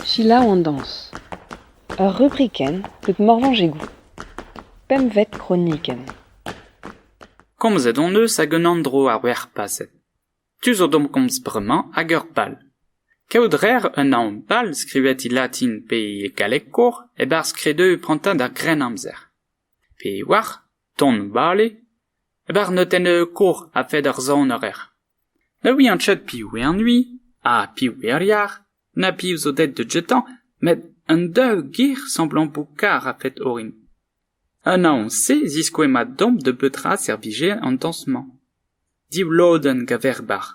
Selaou an dañs. Ur rubrikenn deut Morvañs Egoù. Pempvet kronikenn. Komzet hon eus ag un andro ar werc'h paset. Tu zo d'omp komz bremañ ag ur bal. Kaout rer un anv bal skrivet e latin pe e galleg kour e-barzh kredeù prantad ar Grennamzer. Pe war ton bale e-barzh notennoù kour a-fed ar sonarer. Ne ouian ket piv eo an ui ha piv eo ar yar, na piv zo deut da jetañ, met un daou gir semblampoù kar a-fed orin. Un anv-se ziskouez mat domp da betra servije an dañs-mañ. div lodenn gaver-bar.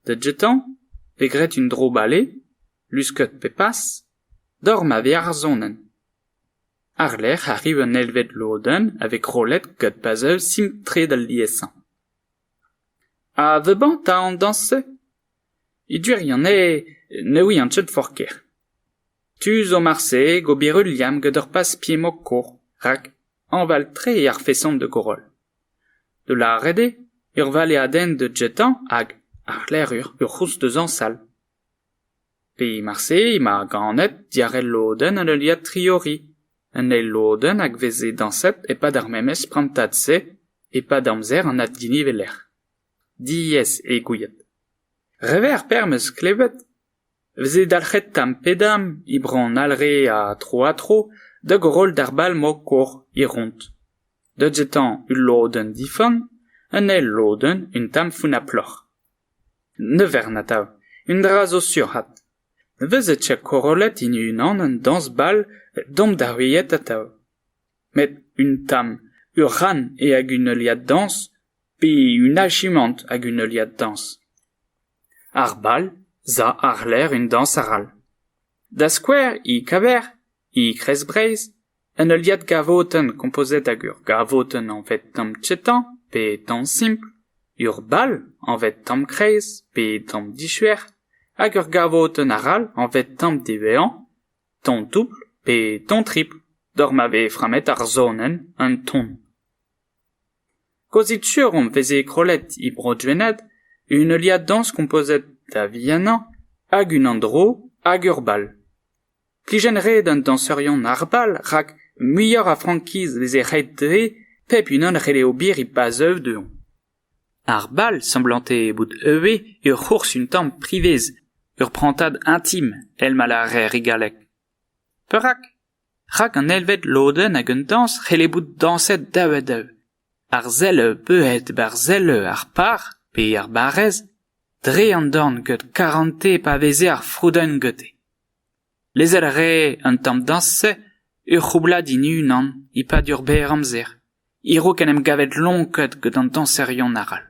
Da jetañ eo graet un dro-bale, luskad pe pas, doc'h ma vez ar sonenn. Àr-lerc'h arriv un eilvet lodenn a vez krollet gant puzzle simpl-tre d'al liesañ. Ha the bantañ an dañs-se? E gwirion eo ne ouian ket forket ker. Tu zo marse gober ul liamm gant ur pas-pied-mokor, rak hañval-tre eo ar feson de koroll. Da lâret eo, ur valeadenn didjetañ hag ar c'hlerc'hur ur c'houlz-dezañsal. Pe marse emañ ganet diàr ul lodenn en heuliad Triori, un eil lodenn hag veze dañset e-pad ar memes prantad-se e-pad amzer an addiniveler. Diaes eo gouiet. Revet ar perzh 'm eus klevet veze dalc'het tamm pe damm e bronn Alre ha tro-ha-tro da goroll d'ar bal-mañ-kor e Ront. deut etañ ul lodenn difan un eil lodenn un tamm founnaploc'h ne vern atav un dra zo surc'had nevezet cha korollet hini unan un dañs-bal domp da heuilhat atav met un tamm ur c'han eo hag un heuliad dañs pe un achimant hag un heuliad dañs ar bal za àr-lerc'h un dañs arall da skouer e kaver e kreiz breizh Un heuliad gavotenn kompozet hag ur gavotenn anvet tamm chetañ pe tamm simpl, ur bal anvet tamm kreiz pe tamm dishuer hag ur gavotenn arall anvet tamm devezañ, tamm doubl pe tamm tripl doc'h ma vez frammet ar sonenn en ton. Kaozit sur hon veze krollet e Bro-Gwened un heuliad dañs kompozet da vihanañ hag un andro hag ur bal. Kijenn-red an dañserion arall rak muioc'h a frankiz veze ret dezhe pep unan a c'helle ober e-pad zeuv dezhoñ. Ar bal semblante bout ivez ur c'hours un tamm privez, ur prantad intim, èl ma lârer e galleg. Perak ? Rak an eilvet lodenn ag an dañs c'helle bout dañset daou-ha-daou. Ar sell beuet ba'r sell ar par pe ar barrez dre an dorn gant karante pa veze ar froudenn gete. Lezel a rae an tamm dañs-se ur c'houblad en unan e-pad ur berr amzer, a-raok en em gavet lonket gant an dañserion arall.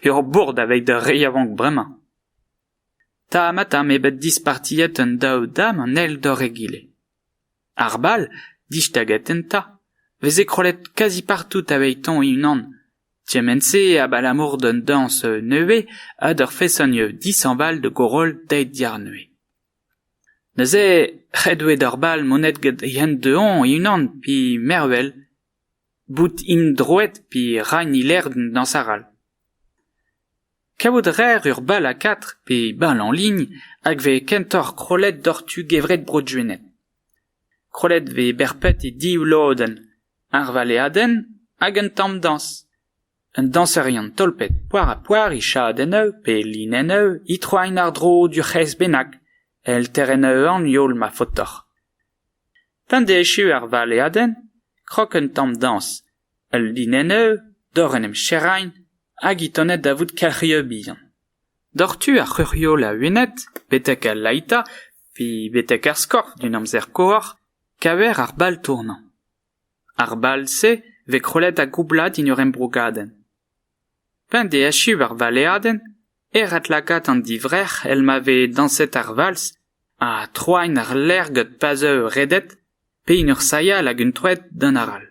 ur bourd aveit d'ar re yaouank bremañ. Tamm-ha-tamm eo bet dispartiet an daou dam an eil d'hor egile. Ar bal, dij tagadenn 'ta, 'veze krollet kazi partout aveit-hoñ e-unan. Kement-se abalamour d'un dañs nevez ha d'ur feson dishañval da goroll daet diàrnevez. Neuze ret oe d'ur bal monet gant yen du-hoñ e-unan pe mervel, bout int droet pe ra 'n e lec'h d'an dañs arall. Kavout a raer ur bal a quatre pe bal en ligne hag vez kentoc'h krollet doc'h tu gevred Bro-Gwened. Krollet vez berped e div lodenn, ar valeadenn hag un tamm dañs. Un dañserion tolpet poar-ha-poar e chadenn-eu pe linenn-eu e troaint àr-dro d'ur c'hres bennak, èl terenn-eu an youl ma faotoc'h. P'en deus echu ar valeadenn, krog un tamm dañs Ul linenn-eu doc'h en em serrain hag hi tennet da vout kelc'hioù bihan. Doc'h tu ar c'hurioù laouenet betek al laita pe betek ar skorf d'en amzer koar kaver ar bal tournañ. Ar bal-se vez krollet ha goublad en ur embrogadenn. P'en deus echu ar valeadenn e ret lakaat an divrec'h èl ma vez dañset ar valz ha troain ar lec'h gant pazioù redet pe en ur sailhañ hag un troad d'an arall.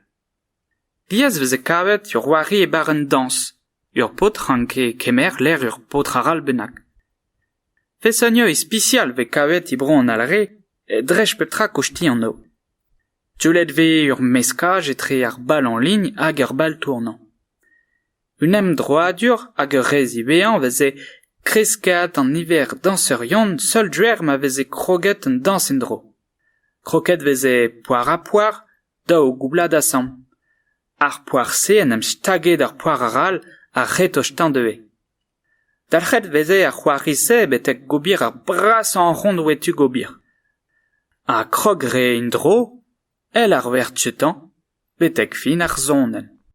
Diaes e veze kavet ur c'hoari e barrenn dañs. Ur paotr ranke kemer lec'h ur paotr arall bennak. Fesonia ispisial e vez kavet e bro an Alre, dres pep tra kostiñ anv. Teullet vez ur meskaj etre ar bal en ligne hag ar bal tournañ. Un emdroadur hag ur re ziwezhañ veze kresket an niver dañserion seul druer ma veze kroget an dañs en-dro. Kroket veze poar-ha-poar, daou goublad asambl. Ar poar-se en em staget ar poar arall a-c'hretoc'h-teñdeuiñ. Dalc'het veze ar c'hoari-se betek gober ar brasañ arc'hant oe tu gober. Ha krog 'ree en-dro, èl ar werz-tañ, betek fin ar sonenn.